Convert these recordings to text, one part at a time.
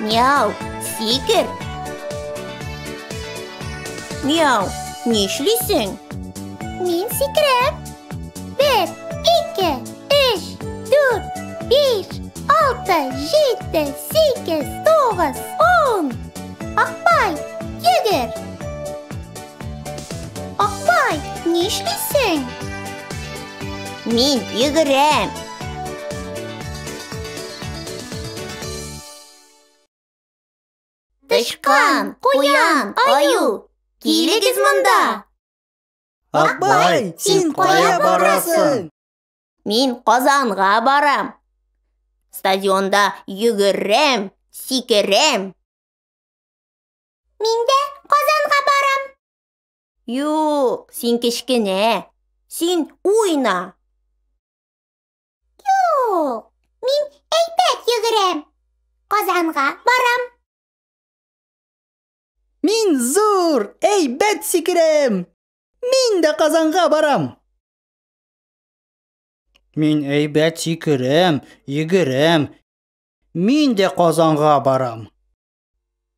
Мяу, сикер. Мяу, нишлисең? Мин сикерәм. Бер, ике, өч, дүрт, биш, алты, җиде, сигез, тугыз, ун. Акбай, йөгер. Апай, нишлисең? Мин йөгерәм. Тычкан, куян, аю, килегез монда. Акбай, син кая барасың? Мин Казанга барам. Стадионда йөгерәм, сикерәм. Мин дә Казанга барам. Юк, син кечкенә. Син уйна. Юк, мин әйбәт йөгерәм. Казанга барам. Мин зур, әйбәт сикерәм. Мин дә Казанга барам. Мин әйбәт сикерәм, йөгерәм. Мин дә Казанга барам.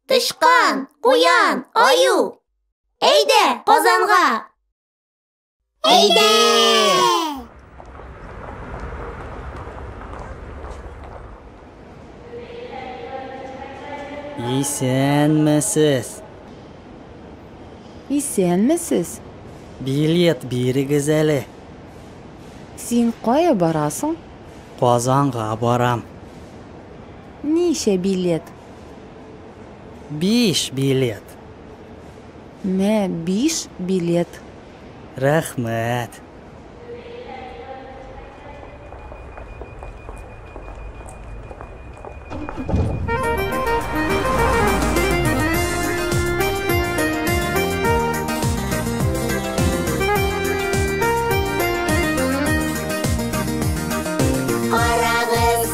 Тычкан, куян, аю! Әйдә, Казанга! Әйдә! Исәнмесез! Исәнмесез! Билет бирегез әле. Син кая барасың? Казанга барам. Ничә билет? Биш билет. Мә биш билет. Рәхмәт.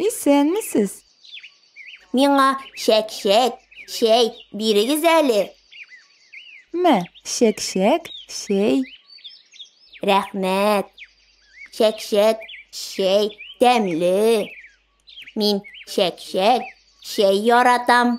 Исәнмесез! Миңа чәк-чәк, чәй бирегез әле. Мә, чәк-чәк, чәй. Рәхмәт. Чәк-чәк, чәй тәмле. Мин чәк-чәк, чәй яратам.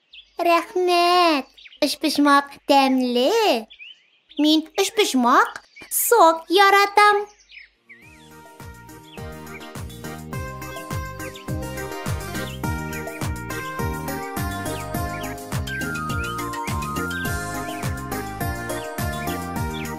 Рәхмәт! Өчпочмак тәмле! Мин өчпочмак сок яратам!